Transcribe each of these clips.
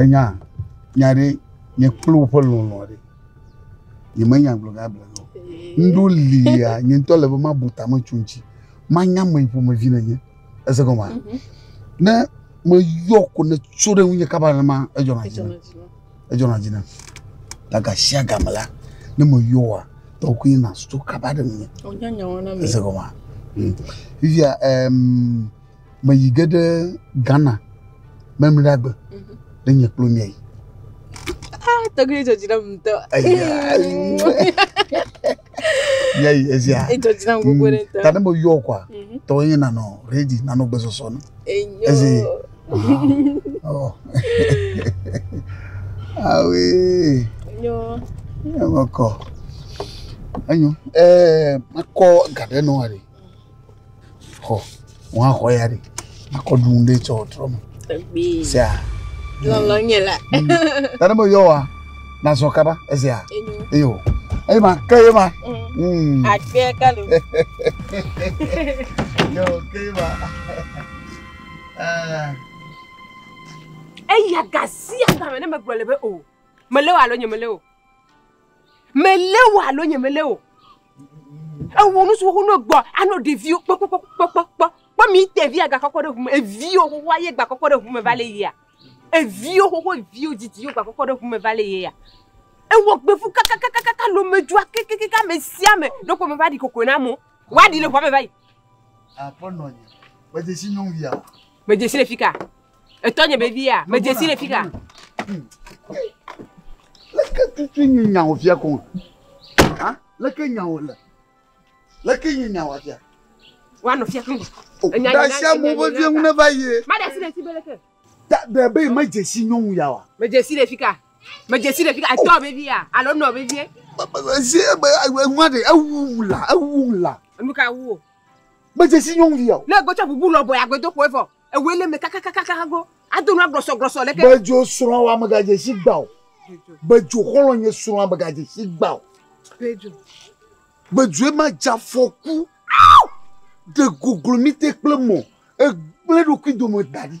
Ènya nya ɖe nye kple woƒe lɔlɔ̃ ɖe yemenya gblɔ gã gblɔ o. Ŋɖo lia nye ŋutɔ le be mabu tame tso ŋuti. Manya ame ƒomevi nenye. Ese gɔmea? Mhm. Ne meyɔ ko ne tso ɖe ŋunye kaba nenema edzɔna dzi nam. Edzɔna dzi nam. Ta gashiagame la ne meyɔa tɔwò koe natso kaba ɖe ŋunye. Wònya nya wɔna me. Ese gɔmea? Mm. Fifia ɛm. Um, meyi ge ɖe Ghana mɛmlɛagbe ɖe nye kplo mia yi. Ah, tɔgbi edzɔ dzi ɖe mu ŋutɔ. Mia yi ezia. Edzɔ dzi ɖe mu gbogbo ɖe ŋutɔ. Ta ne meyɔ kɔa, mhm. tɔwo nye nanɔ redi, nanɔ gbesɔsɔ no. Enyo. Ezi. Ah, oh. Ah oui. Enyo. Enyo kɔ. Enyo. Eh, makɔ gaɖe nɔ ari. Xɔ, ŋua xɔ ya ɖi. Akɔ ɖu ɖe tsɔ trɔ me. Egbi. Sia. Lɔlɔ nye la. Tani mo yɔ wa. Na zɔ kaba ezia. Enyo. Eyo. Eyi ma ke ye ma. Mm. Akpɛ kalo. Yo ke ye ma. Eh. Eya gasi agba me ne me gblɔ le be o. Me le wa lo nye me le o. Melé wò alo nyemelé wò. Ewɔ nu siwo wonɔ gbɔ anɔ ɖeviwo kpɔkpɔkpɔkpɔkpɔ. Kpɔ mi te via gakɔkɔ ɖe ʋume. Eviwo xoxo aye gbakɔkɔ ɖe ʋume va le yia. Eviwo xoxo eviwo didi yo gbakɔkɔ ɖe ʋume va le yia. Ewɔ gbevu kakakakaka lo medzua kekekeke ame sia ame ɖo ko meva ɖi kokoe na amewo. Woaɖi le ʋua me va yi. Akpɔ nɔnye. Medzesi nyɔnuvia. Medzesi le fika. Etɔ nye baby ya, me dzesi le fika. Leke tutu nye nya wò fia kɔn? Ha? Leke nya wò le? Leke nye nya wò fia? Wa no fia kɔn. Oh, da sia mo be vie ŋune va ye. Ma da si le si be leke. Da da be me dzesi nyɔnu ya wa. Me dzesi le fika. Me dzesi le fika. Etɔ baby ya, alo nɔ baby. Zi be ŋwa de ewu la, ewu la. Enu ka wu? Me dzesi nyɔnu ya. Le gbɔtsɔ bubu lɔbɔ ya gbedo ko evɔ. Ewɔe le me kakakakaka hago. Ado nua gbɔsɔgbɔsɔ leke. Bedzo srɔ̃ wa megadze si gba o. Bedzo xɔlɔ nye srɔ̃ wa megadze si gba o. Bedzo. Bedzoe ma dza fɔku. De goglo mi te kple mɔ. Egble ɖokui dome da ɖi.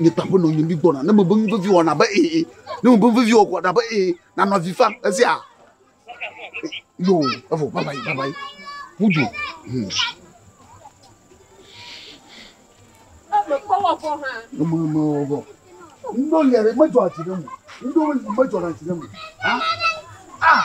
nye kpaƒe nɔ nye mi gbɔna ne mebe nuvevi wɔ nabe ee ne mebe nuvevi wɔ kɔ nabe ee nanɔ avi fa esia yo evo baba yi baba yi wudu. Mama mama wɔ ndo yɛrɛ medzɔ ati ɖe mu ndo medzɔ ati ɖe mu ah ah.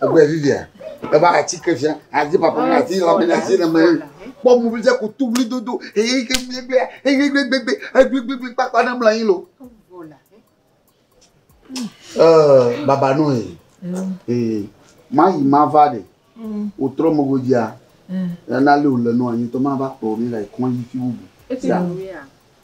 Egbe vivia. Eba ati ke fia. Ati papa na ati la me ati na me. Kpɔ mu vija ku tu wuli dodo. Eye ke mi gbe. Eye gbe gbe gbe. Egbe gbe gbe kpa kpa na mla yin lo. Eh baba no e. Eh ma yi ma va de. O tro mo go dia. Na le o le no anyi to ma va po mi la ikon yi fi wubu. Eti ya.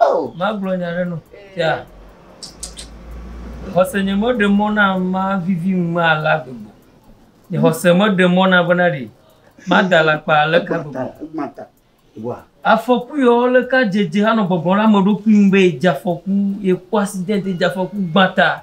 Oh. Magblɔ nya ɖe nɔ. Tia. Xɔse nye me ɖe mɔ na ma vivi ŋme ala gbegbe. Nye xɔse me ɖe mɔ na bena ɖe ma da la kpa le ka gbegbe. Afɔku yɔ le ka dzedze anɔ gbɔgbɔ la me ɖokui ŋu be dze afɔku ye kpɔ asidɛnti dze afɔku gbata